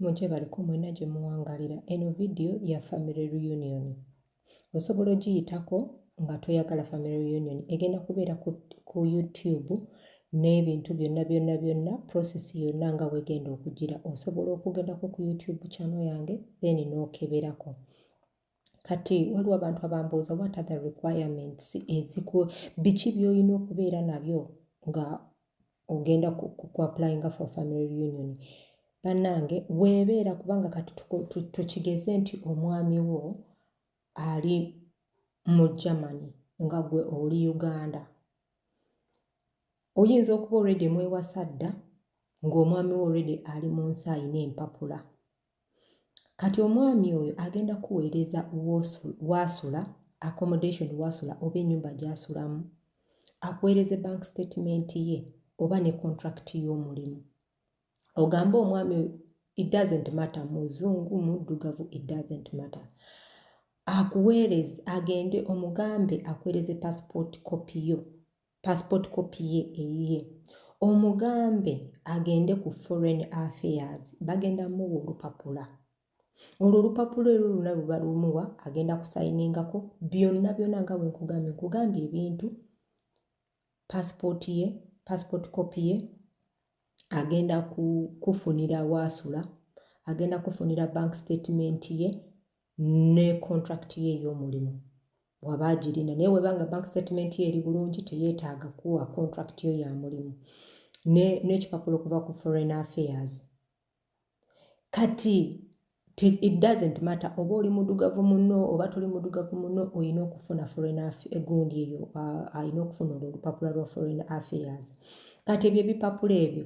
mujje baliko mwena gye muwangalira eno vidiyo ya family reunion osobola ogiyitako nga toyagala family reunion egenda kubeera ku, ku youtube n'ebintu byonna byonna byonna process yonna nga wegenda okugira osobola okugendako ku youtube channel yange then n'okeberako no kati waliwo abantu abambuuza what are the requirements eziku biki byolina okubeera nabyo nga ogenda kuapplyinga for family reunion bannange weebeera kubanga kati tukigeze nti omwami wo ali mu germany nga gwe oli uganda oyinza okuba olredi emwewasa dda ng'omwami wo olredi ali mu nsi alina empapula kati omwami oyo agenda kuweereza waasula accommodation waasula oba ennyumba gy'asulamu akuweereze bank statement ye oba ne contract y'omulimu ogambe omwami oyo it doesn't matter muzungu muddugavu it doesn't matter akuweereze agende omugambe akuweereze passport copy yo passport copy ye eyiye omugambe agende ku foreign affairs bagenda muwa olupapula olwo olupapula ero luna luba lumuwa agenda kusayiningako byonna byona nga bwenkugambye nkugambye ebintu passport ye passport copy ye agenda kufunira waasula agenda kufunira bank statement ye ne contract ye ey'omulimu waba agirina naye weba nga bank statement ye eri bulungi teyeetaaga kuwa contract yo ya mulimu n'ekipapula ne okuva ku foreign affairs kati it doesn't matter oba oli mudugavu muno oba toli mudugavu muno olina okufuna foreign egundi eyo alina okufuna olwo olupapula lwa foreign affairs kati ebyo ebipapula ebyo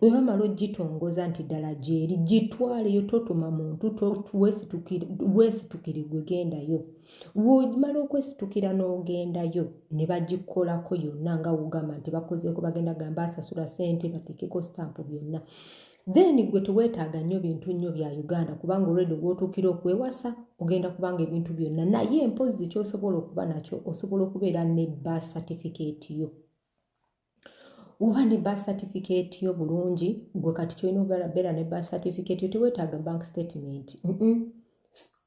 bwe bamala ogitongoza nti ddala gyeri gitwaleyo totuma muntu weesitukire gwe gendayo wemala okwesitukira n'ogendayo ne bagikolako yonna nga wogamba nti bakozeeko bagenda gamba asasula sente bateekeko sitampu byonna then gwe teweetaaga nnyo bintu nnyo bya uganda kubanga olwedde gwotuukira okwewasa ogenda kubanga ebintu byonna naye empozzi kyosobola okuba nakyo osobola okubeera ne ba certificate yo oba ne birth certificate yo bulungi gwe kati kyolina obeera ne birth certificate yo tewetaaga bank statement mm -mm.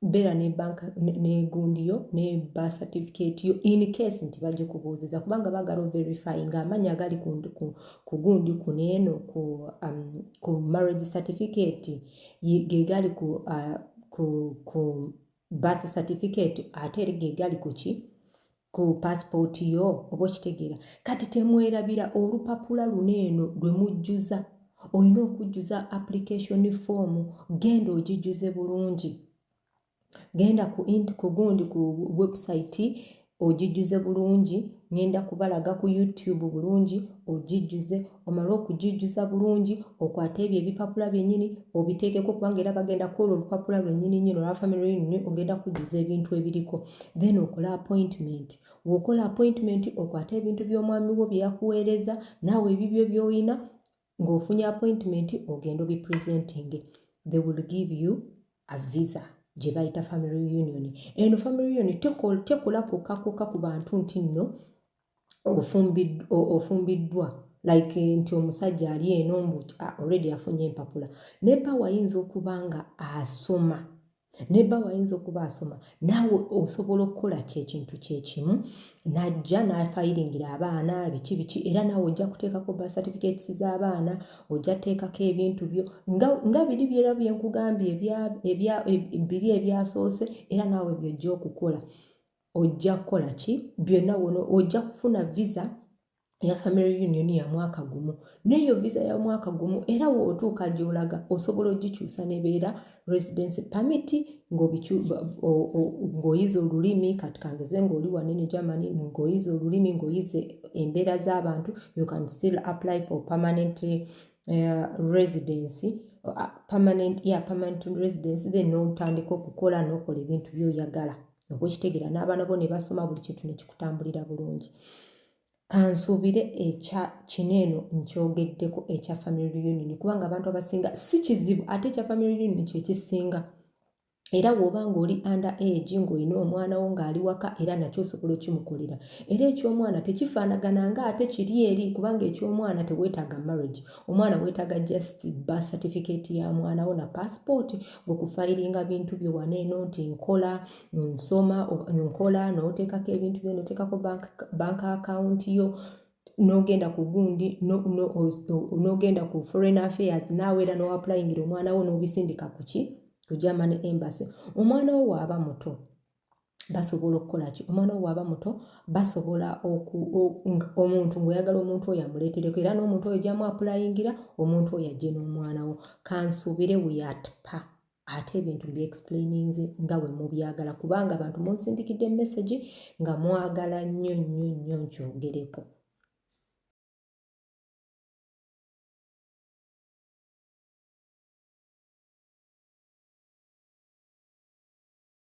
beera ne bank negundi yo ne birth certificate yo in case nti bajja kubuuziza kubanga bagala overify nga amanya agali ku gundi kuneeno ku, um, ku marriage certificate gegali ku, uh, ku, ku birth certificate ate eri gegali kuki ku pasipooti yo oba okitegeera kati temwerabira olupapula luno eno lwe mujjuza olina okujjuza application form genda ogijjuze bulungi genda ku int ku gundi ku webusayiti ogijjuze bulungi ngenda kubalaga ku youtube bulungi ogijjuze omale okugijjuza bulungi okwate ebyo ebipapula byennyini obiteekeko kubanga era bagenda kwolwo olupapula lwennyini nyini olwa family reunion ogenda kujjuza ebintu ebiriko then okola appointment wokola appointment okwate ebintu by'omwami wo bye yakuweereza naawe ebibyo by'olina ng'ofunye appointment ogenda obipresenting they will give you a visa gye bayita family reunion eno family reunion tekola kwokka kwokka ku bantu nti nno ofumbiddwa like nti omusajja ali eno mbu ah, already afunye empapula ne bba wayinza okuba nga asoma ne bba wayinza okuba asoma naawe osobola okukola kyekintu kyekimu najja nafayiringira abaana biki biki era naawe ojja kuteekako ba certificates z'abaana ojja teekako ebintu byo nga biri byera byenkugambye biri ebyasoose era naawe byojja okukola ojja kukola ki byonna wono ojja kufuna visa eya family union ya mwaka gumu n'eyo visa ya mwaka gumu era wootuuka gyolaga osobola ogikyusa nebeera residency permit ng'oyiza olulimi kati kangeze ng'oli wanene germany ng'oyiza olulimi ng'oyize embeera z'abantu you can still apply for permanent uh, residency uh, permanent, yeah, permanent residency then n'otandika okukola n'okola ebintu byoyagala no okukitegeera n'abaana bo ne basoma buli kintu ne kikutambulira bulungi kansuubire ekya kino eno nkyogeddeko ekya family reunion kubanga abantu abasinga si kizibu ate ekya family reunion kyekisinga era woba ng'oli under age ng'olina omwana wo ng'ali waka era nakyo osobola okimukolera era eky'omwana tekifaanagana nga ate kiri eri kubanga eky'omwana teweetaaga marriage omwana wetaaga just ba certificate ya mwana wo na passport gwekufayiringa bintu byo waneeno nti nkola nsoma nkola noteekako ebintu byo noteekako bank, bank account yo nogenda ku gundi nogenda ku foreign affairs naawe era noapplyingira omwana wo nobisindika kuki ku german embassy omwana wo waaba muto basobola okukola ki omwana wo waaba muto basobola omuntu ngaoyagala omuntu oyo amuleetereko era n'omuntu oyo gyamu apulayingira omuntu oyo ajje n'omwana wo kansuubire weyatpa ate ebintu byexplaininze nga bwe mubyagala kubanga abantu munsindikidde emesagi nga mwagala nnyo nnyo nnyo nkyogereko